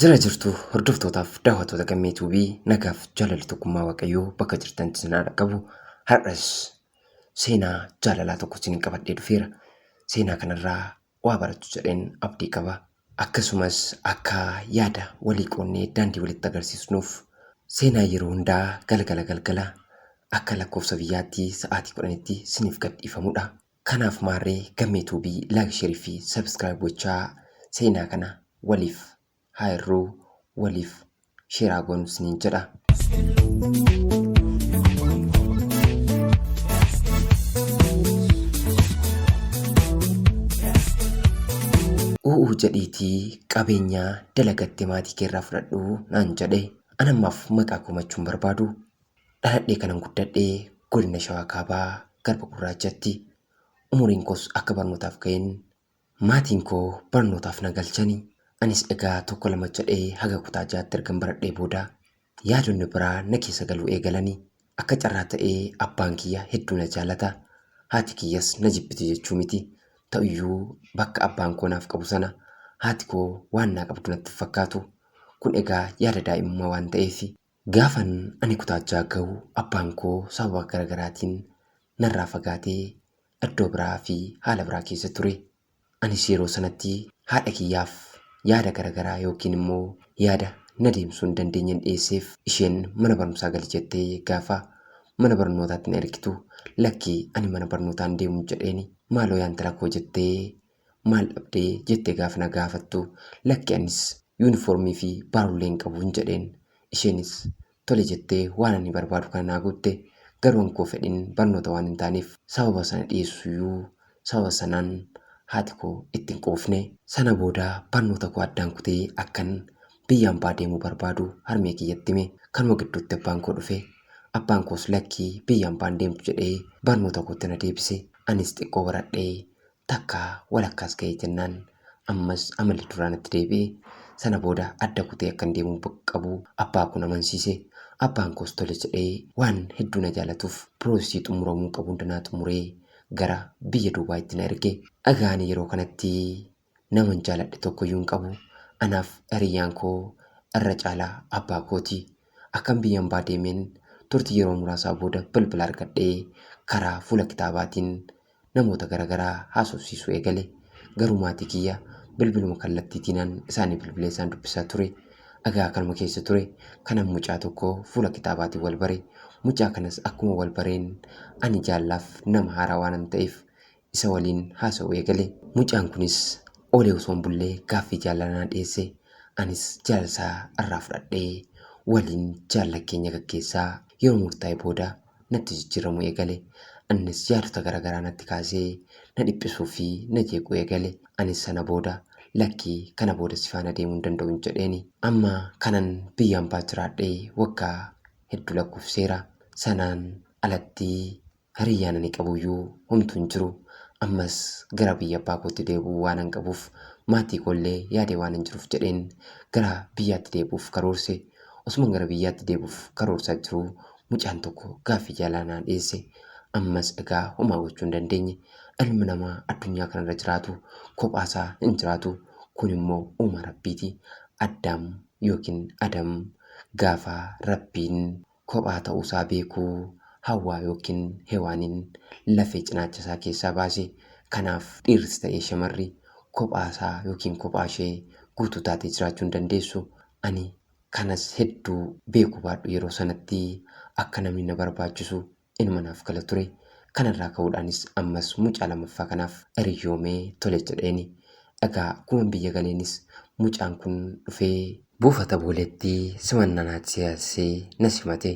Jira jirtu hordoftootaaf daawwattoota gammee tuubii nagaaf jaalalli tokkummaa waaqayyoo bakka jirtan sinaa dhaqqabu har'as seenaa jaalalaa tokko isin qabadhee dhufeera. Seenaa kanarraa waa barattu jedheen abdii qaba. Akkasumas akka yaada walii qoonnee daandii walitti agarsiisnuuf seenaa yeroo hundaa galgala galgala akka lakkoofsa biyyaatti sa'aatii 10tti siniif gad dhiifamudha. Kanaaf maarree Gammee Tuubii like share fi subscribe gochaa seenaa kana waliif haa hirruu waliif sheeraa goonu isiniin jedha. U'uu jedhiitii qabeenyaa dalagattee maatii keerraa fudhadhu naan jedhe. An ammaaf maqaa komachuun barbaadu. Dhaladhee kanan guddadhe godina Shawaa Kaabaa garba gurraachatti. Umuriin koos akka barnootaaf ka'een Maatiin koo barnootaaf na galchani. Anis egaa tokko lama jedhee haga kutaa ja'atti ergan baradhee booda yaadonni biraa na keessa galuu eegalani. Akka carraa ta'ee abbaan kiyya hedduu na jaalata. Haati kiyyas na jibbiti jechuu miti. Ta'uyyuu bakka abbaan koo naaf qabu sana haati koo waan naa qabdu natti hin fakkaatu. Kun egaa yaada daa'imummaa waan ta'eefi. Gaafan ani kutaa ja'a gahu abbaan koo sababa gara garaatiin narraa fagaatee iddoo biraa fi haala biraa keessa ture. Anis yeroo sanatti haadha kiyyaaf yaada gara garaa yookiin immoo yaada na deemsuu hin dandeenyen dhiyeesseef. Isheen mana barumsaa gali jettee gaafa mana barnootaatti na ergitu lakkii ani mana barnootaa hin deemu jedheeni. Maaloo yaa intala koo jettee Maal dhabdee jette gaafa na gaafattu lakki anis yuunifoormii fi baarullee hin qabuun jedheen. Isheenis tole jettee waan ani barbaadu kana naa guutte garuu ankoo fedhin barnoota waan hin taaneef sababa sana dhiyeessuyyuu sababa sanaan haati koo itti hin quufne. Sana booda barnoota koo addaan kutee akkan biyya ambaa deemuu barbaadu harmee kiyyatti hime. Kanuma gidduutti abbaan koo dhufe. Abbaan koos lakki biyya ambaan deemtu jedhee barnoota kootti na deebise. Anis xiqqoo baradhee Takka walakkaas ga'e jennaan ammas amalli duraa natti deebi'e. Sana booda adda kutee akkan deemuu bak- qabu abbaa koon amansiise. Abbaan koos tole jedhee waan hedduu na jaalatuuf piroosesii xumuramuu qabu hunda naa xumuree gara biyya Duubaayitti na erge. Egaa ani yeroo kanatti naman jaaladhe tokkoyyuu hin qabu. Anaaf hiriyyaan koo irra caalaa abbaa kooti. Akkan biyya ambaa deemeen turtii yeroo muraasaa booda bilbila argadhee karaa fuula kitaabaatiin namoota garagaraa haasofsiisuu eegale. Garuu maatii kiyya bilbiluma kallattiitiinan isaanii bilbilee isaan dubbisaa ture. Egaa kanuma keessa ture kanan mucaa tokko fuula kitaabaatiin wal bare. Mucaa kanas akkuma wal bareen ani jaallaaf nama haaraa waanan ta'eef isa waliin haasa'uu eegale. Mucaan kunis oolee osoo hin bullee gaaffii jaalala naa dhiyeesse. Anis jaalala isaa irraa fudhadhee waliin jaalala keenya gaggeessaa yeroo murtaa'e booda natti jijjiiramuu eegale. Annis yaadota garaagaraa natti kaasee na dhiphisuu fi na jeequu eegale. Anis sana booda lakki kana booda si faana deemuu hin danda'un jedheeni. Amma kanan biyya ambaa jiraadhee waggaa hedduu lakkoofsiseera. Sanaan alatti hiriyyaan ani qabuyyuu homtuu hin jiru. Ammas gara biyya abbaa kootti deebi'uu waanan qabuuf maatii koo illee yaadee waanan jiruuf jedheen gara biyyaatti deebi'uuf karoorse. Osuman gara biyyaatti deebi'uuf karoorsaa jiruu mucaan tokko gaaffii jaalala naa dhiyeesse ammas egaa homaa gochuu hin dandeenye ilmi namaa addunyaa kanarra jiraatu kophaasaa hin jiraatu kun immoo uuma rabbiiti addaam yookiin adam gaafa rabbiin kophaa ta'uusaa beekuu hawwaa yookiin hewaaniin lafee cinaacha isaa keessaa baase kanaaf dhiirris ta'ee shamarri kophaasaa yookiin kophaashee guutuu taatee jiraachuu hin dandeessu ani kanas hedduu beeku baadhu yeroo sanatti akka namni na barbaachisu inuma naaf gala ture. Kanarraa ka'uudhaanis ammas mucaa lamaffaa kanaaf hiriyyoomee tole jedheeni. Egaa akkuman biyya galeenis mucaan kun dhufee. Buufata Booleetti simannaa naatti taasisee na simate.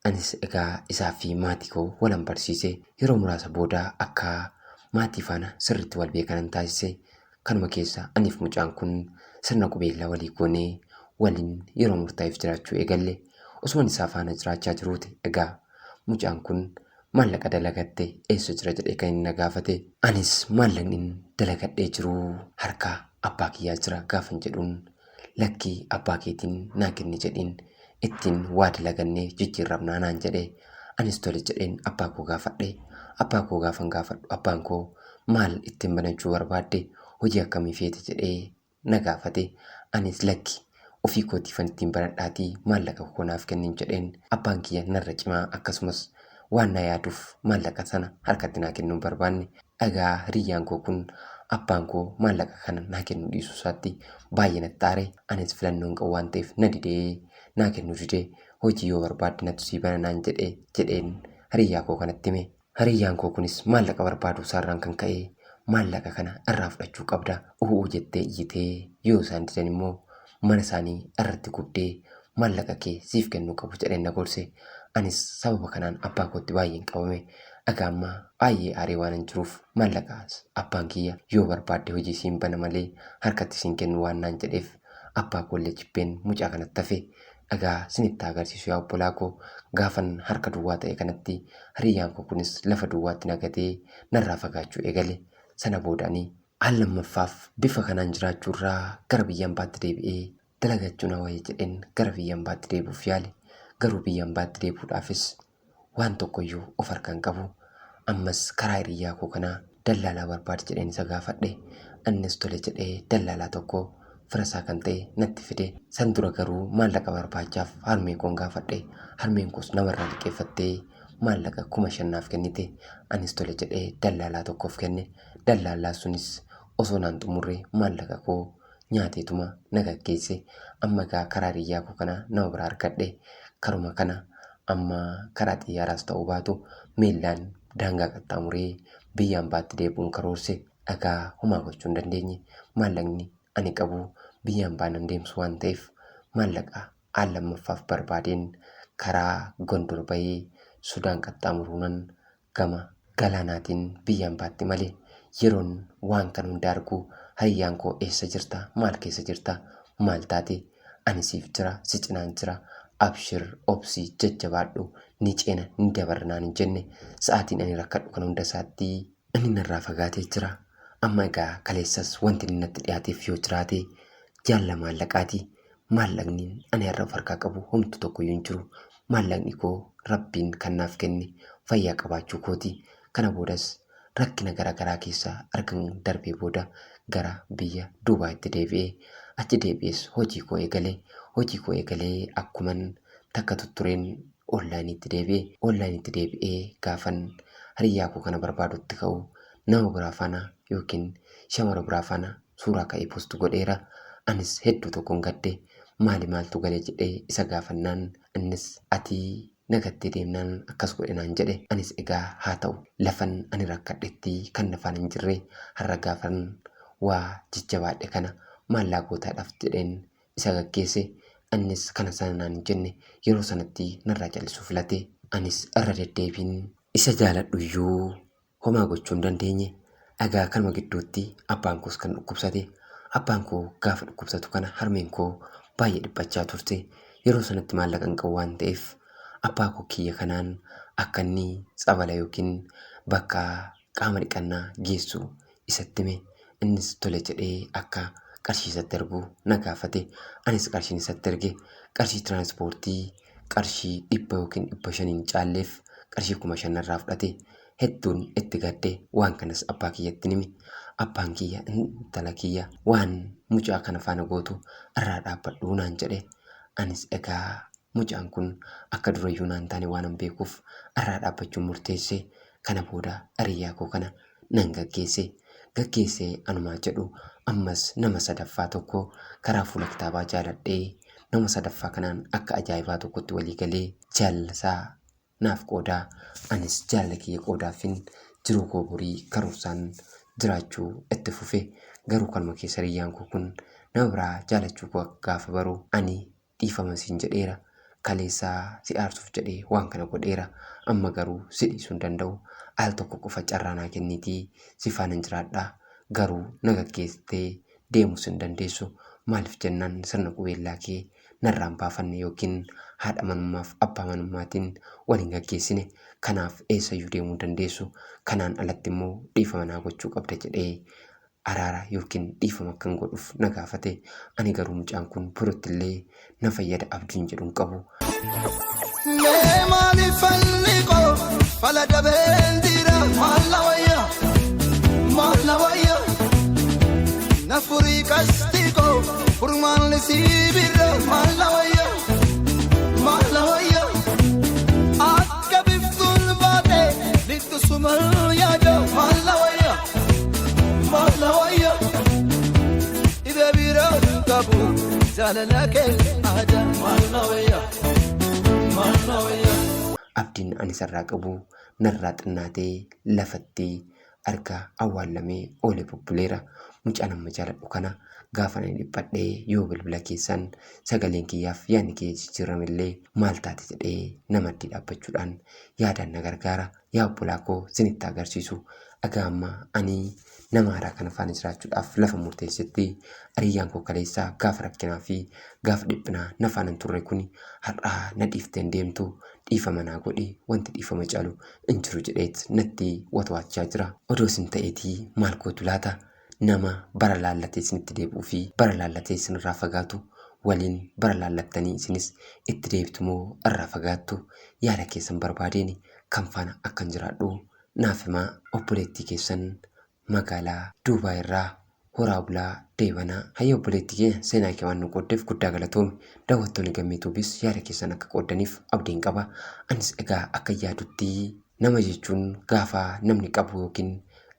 Anis egaa isaa fi maatii koo walan barsiise. Yeroo muraasa booda akka maatii faana sirriitti wal beekanan taasise. Kanuma keessa aniif mucaan kun sirna qubeellaa walii goonee waliin yeroo murtaa'eef jiraachuu eegalle. Osuman isaa faana jiraachaa jiruuti egaa mucaan kun maallaqa dalagatte eessa jira jedhee kan inni na gaafate. Anis maallaqnin dalagadhee jiru harka abbaa kiyyaa jira gaafan jedhuun Lakkii abbaa keetiin naa kenni jedhiin ittiin waa dalagannee jijjiirramnaa naan jedhe. Anis tole jedheen abbaa koo gaafadhe. Abbaa koo gaafan gaafadhu abbaan koo maal ittiin banachuu barbaadde hojii akkamii feete jedhee na gaafate. Anis lakki ofii kootiifan ittiin banadhaatii maallaqa koo naaf kennin jedheen. Abbaan kiyya narra cimaa akkasumas Waan na yaaduuf maallaqa sana harkatti naa kennuu hin barbaanne. Egaa hiriyyaan koo kun abbaan koo maallaqa kana naa kennuu dhiisuu isaatti baay'ee natti aare. Anis filannoo hin qabu waan ta'eef na dide. Naa kennuu dide. Hojii yoo barbaadde natu sii bana naan jedhe jedheen hiriyyaa koo kanatti hime. Hiriyyaan koo kunis maallaqa barbaaduu isaarraan kan ka'e maallaqa kana irraa fudhachuu qabda uu'uu jettee iyyite. Yoo isaan didan immoo mana isaanii irratti gubdee maallaqa kee siif kennuu qabu jedheen na gorse. Anis sababa kanaan abbaa kootti baay'een qabame. Aga ammaa baay'ee aaree waanan jiruuf maallaqaas abbaan kiyya yoo barbaadde hojii siin bana malee harkatti siin kennu waan naan jedheef abbaa koollee jibbeen mucaa kanatti hafe. Dhagaa sinitti agarsiisu yaa obbolaa koo gaafan harka duwwaa ta'e kanatti hiriyyaan koo kunis lafa duwwaatti na gatee narraa fagaachuu eegale. Sana booda ani Al lammaffaaf bifa kanaan jiraachuu irraa gara biyya ambaatti deebi'ee dalagachuu na wayya jedheen gara biyya ambaatti deebi'uuf yaale. Garuu biyya ambaatti deebi'uudhaafis waan tokko iyyuu of harkaa hin qabu. Ammas karaa hiriyyaa koo kanaa dallaalaa barbaadi jedheen isa gaafadhe. Innis tole jedhee dallaalaa tokko fira isaa kan ta'e natti fide. San dura garuu maallaqa barbaachaaf harmee koon gaafadhe. Harmeen koos nama irraa liqeeffattee maallaqa kuma shan naaf kennite. Anis tole jedhee dallaalaa tokkoof kenne. Dallaallaan sunis osoo naan xumurre maallaqa koo nyaateetuma na gaggeesse. Amma egaa karaa hiriyyaa koo kana nama biraa argadhe. Karuma kana amma karaa xiyyaaraas ta'uu baatu miillaan daangaa qaxxaamuree biyya ambaatti deebi'uun karoorse. Egaa homaa gochuu hin dandeenye. Maallaqni ani qabu biyya ambaa nan deemsu waan ta'eef maallaqa al lammaffaaf barbaadeen karaa Gondor bahee Sudaan qaxxaamuruunan gama galaanaatiin biyya ambaatti malee yeroon waan kan hunda argu hariyyaan koo eessa jirta maal keessa jirta maal taate ani siif jira si cinaan jira abshir obsi jajjabaadhu ni ceena ni dabarra naan hin jenne sa'aatiin ani rakkadhu kan hunda isaatti inni narraa fagaatee jira amma egaa kaleessas wanti inni natti dhiyaateef yoo jiraate jaalla maallaqaati maallaqni ani har'a of harkaa qabu homtu tokkoyyuu hin jiru. Maallaqni koo rabbiin kan naaf kenne fayyaa qabaachuu kooti. Kana boodas rakkina gara garaa keessa argan darbee booda gara biyya Duubaayitti deebi'e. Achi deebi'ees hojii koo eegale. Hojii koo eegalee akkuman takka tuttureen onlaayiniitti deebi'e. Onlaayiniitti deebi'ee gaafan hariyyaa koo kana barbaadutti ka'u nama biraa faana yookiin shamara biraa faana suuraa ka'ee post godheera. Anis hedduu tokkon gadde. Maali maaltu gale jedhee isa gaafannaan innis ati na gattee deemnaan akkas godhe naan jedhe. Anis egaa haa ta'u lafan ani rakkadhetti kan nafaan hin jirre har'a gaafan waa jajjabaadhe kana maal naa gootaa dhaf jedheen isa gaggeesse. Innis kana sana naan hin jenne yeroo sanatti narraa callisuu filate. Anis irra deddeebiin isa jaaladhuyyuu Homaa gochuu hin dandeenye. Egaa kanuma gidduutti abbaan koos kan dhukkubsate. Abbaan koo gaafa dhukkubsatu kana harmeen koo baay'ee dhiphachaa turte. Yeroo sanatti maallaqa hin qabu waan ta'eef abbaa koo kiyya kanaan akka inni tsabala yookiin bakka qaama dhiqannaa geessu isatti hime. Innis tole jedhee akka qarshii isatti ergu na gaafate. Anis qarshiin isatti erge. Qarshii tiraanspoortii qarshii 100 ykn 500 hin caalleef qarshii 5000 narraa fudhate. Hedduun itti gadde. Waan kanas abbaa kiyyattin hime. Abbaan kiyya intala kiyya waan mucaa kana faana gootu irraa dhaabbadhu naan jedhe. Anis egaa mucaan kun akka durayyuu naan taane waanan beekuuf irraa dhaabbachuun murteesse. Kana booda hiriyaa koo kana nan gaggeesse. Gaggeessee anumaa jedhu ammas nama sadaffaa tokko karaa fuula kitaabaa jaaladhee nama sadaffaa kanaan akka ajaa'ibaa tokkotti walii galee jaalala isaa naaf qooda. Anis jaalala kiyya qoodaafin jiruu koo borii karoorsaan jiraachuu itti fufe. Garuu kanuma keessa hiriyyaan koo kun nama biraa jaalachuu koo gaafa baru ani dhiifama siin jedheera. Kaleessa si aarsuuf jedhee waan kana godheera. Amma garuu si dhiisuu hin danda'u. Al tokko qofa carraa naa kenniitii si faanan jiraadha. Garuu na gaggeessitee deemuus hin dandeessu. Maaliif jennaan sirna qubeellaa kee narraa hin baafanne yookiin haadha manummaaf abbaa manummaatiin wal hin gaggeessine. Kanaaf eessayyuu deemuu hin dandeessu. Kanaan alatti immoo dhiifama naa gochuu qabda jedhee araara yookiin dhiifama akkan godhuuf na gaafate. Ani garuu mucaan kun boruttillee na fayyada abdiin jedhun qabu. Mee maaliif falli koo fala dabeen jira maal na wayya maal na wayya na furii qasti koo furmaan lisii birra maal na wayya maal na wayya akka biftuun baate lixxu sumal yaada maal na wayya. Maaf na wayya dhibee biraa hin qabu jaalala kee aadaa maaf na wayya maaf na wayya. abdiin ani sarraa qabu narraa xinnaatee lafatti argaa awwaallamee oole bubbuleera mucaan amma jaaladhu kana gaafa ani dhiphadhee yoo bilbila keessaan sagaleen kiyyaaf yaadni kiyya jijjiiramellee maal taate jedhee namaddii dhaabbachuudhaan yaadaan na gargaara yaa obbolaa koo sinitti agarsiisu agaa ammaa ani nama haaraa kana faana jiraachuudhaaf lafa murteessetti ariyyaan koo kaleessaa gaafa rakkinaa fi gaafa dhiphinaa na faana hin turre kuni har'aa na dhiifteen deemtu dhiifama naa godhi wanti dhiifama caalu hin jiru jedheet natti watwaachaa jira odoo sin ta'eetii maal gootu laata Nama bara laallatee isinitti deebi'uu fi bara laallatee isinirraa fagaatu waliin bara laallattanii isinis itti deebitu moo irraa fagaattu? Yaada keessan barbaadeen kan faana akkan jiraadhu naaf himaa. Obboleettii keessan magaalaa Duubaay irraa horaa bulaa deebanaa. Hayyee obboleettii keenya seenaa kee waan nu qooddeef guddaa galatoomi. Daawwattoonni Gammee Tuubis yaada keessan akka qooddaniif abdiin qaba. Anis egaa akkan yaadutti Nama jechuun gaafa namni qabu yookiin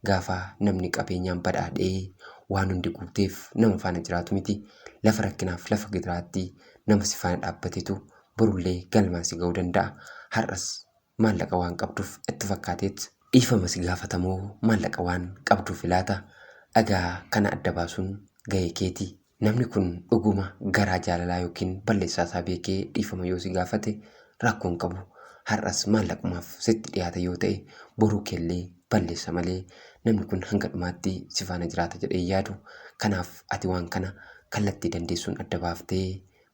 gaafa namni qabeenyaan badhaadhee waan hundi guuteef nama faana jiraatu miti. Lafa rakkinaaf lafa gidiraatti nama si faana dhaabbatetu borullee galmaan si ga'uu danda'a. Har'as maallaqa waan qabduuf itti fakkaateet dhiifama si gaafata moo maallaqa waan qabduufi laata? Egaa kana adda baasuun gahee keeti. Namni kun dhuguma garaa jaalalaa ykn balleessaa isaa beekee dhiifama yoo si gaafate rakkoo hin qabu. Har'as maallaqumaaf sitti dhiyaata yoo ta'e boruu keellee balleessa malee namni kun hanga dhumaatti si faana jiraata jedhee hin yaadu. Kanaaf ati waan kana kallattii dandeessuun adda baaftee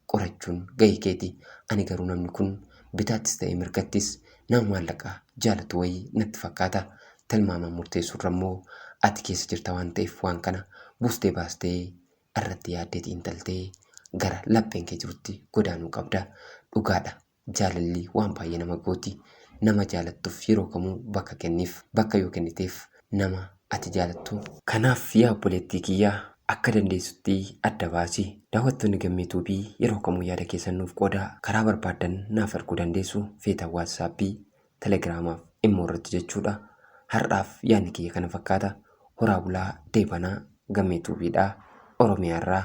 qorachuun gahee keeti. Ani garuu namni kun bitaattis ta'ee mirgattis nama maallaqa jaalatu wayii natti fakkaata. Tilmaamaan murteessuurra immoo ati keessa jirta waan ta'eef waan kana buustee baastee irratti yaaddee xiinxaltee gara lapheen kee jirutti godaanuu qabda. Dhugaadha Jaalalli waan baay'ee nama gooti. Nama jaalattuuf yeroo kamuu bakka kenniif. Bakka yoo kenniteef nama ati jaalattu. Kanaaf yaa obboleettii kiyya akka dandeessutti adda baasi. Daawwattoonni Gammee Tube yeroo kamuu yaada keessan nuuf qoodaa. Karaa barbaaddan naaf erguu dandeessu. Feetan WhatsApp, Telegram fi Imo irratti jechuudha. Har'aaf yaadni kiyya kana fakkaata. Horaa bulaa, deebanaa. Gammee Tube dha. Oromiyaa irraa.